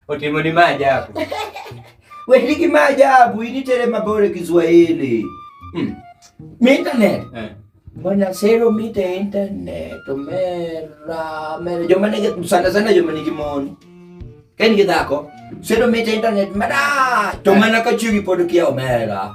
Otimo ni maajabu. Wewe ni kimaajabu, hii ni tele mabore Kiswahili. Hmm. Mi internet. Eh. Mbona sero mita internet mera mera joma nige sana sana joma nige moni. Kani gidako sero mita internet mera to mana ka chiri podo kia mera.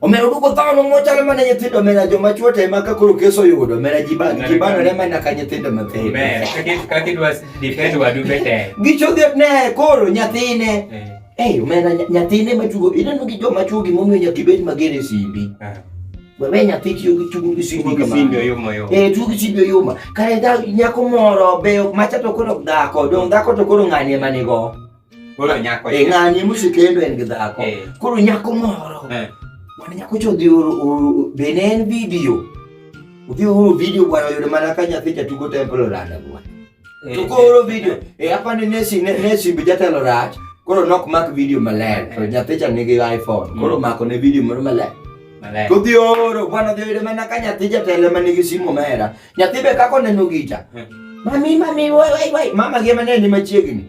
Omera duko dhano mochalo mana nyithindo omera joma chwo te ma kakoro keso yudo omera ji ba ji ba ne mana ka nyithindo ma pe. Omera ka ki dwa defend wadu be te. Gicho de ne koro nyathine. Eh, eh omera nyathine ma tugo ineno gi joma chwo gi momiyo nyaka ibed mager e simbi. Ah. Wewe nyathi tiyo gi tugo gi simbi kama. Simbi oyuma yo. Eh tugo gi simbi oyuma. Kare da nyako moro be macha to koro dhako, dong dhako to koro ng'ani ema nigo. Koro nyako. E ng'ani musikendo en gi dhako. Eh. Koro nyako moro. Eh. Mwana nyako cho dhi oro bene en video. Udhi oro video bwana yudo mana ka nyathi cha tugo temple rada bwana. Eh. Tugo oro video. E hapa ni nesi nesi bijatelo rach. Koro nok mak video maler. To nyathi cha nigi iPhone. Mm. Koro mako ne video moro maler. Kodhi oro bwana dhi yudo mana ka nyathi jatelo ma nigi simu mera. Nyathi be kako neno gicha. Eh. Mami mami wai wai wai mama gi mane ni machiegni.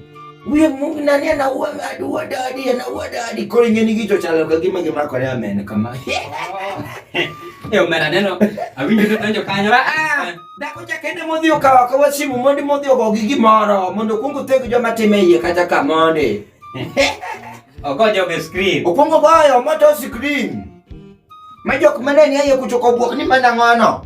Uye mungu nani ana uwa adi uwa dadi ana uwa dadi koro ingeni gicho chalo ka gima gima kore amen kama. Eo mera neno. Awinjo to tanjo kanyo. Ah, ah. Eh. Dako cha kende modhi okawa kawa simu mondi modhi ogo gi gimoro mondo kungu tego joma time iye kata ka mondi. Ogo joge screen. Okungu boyo moto screen. Majok maneni ayo kuchoko buok ni mana ngono.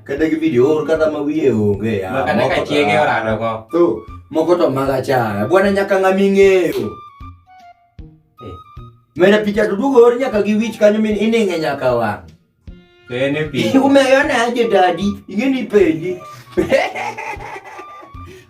kata gi video or kata ma wiye onge ya Makata moko ka to- chiege orado go. to moko to mag achaya bwana nyaka ng'ama ing'eyo Eh. mena picha to duogo or nyaka gi wich kanyo min ining'e nyaka wang' To en e pi. umeyo naje dadi ing'eni penji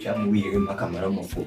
Chamo wiye gi mbaka moro mofuwo.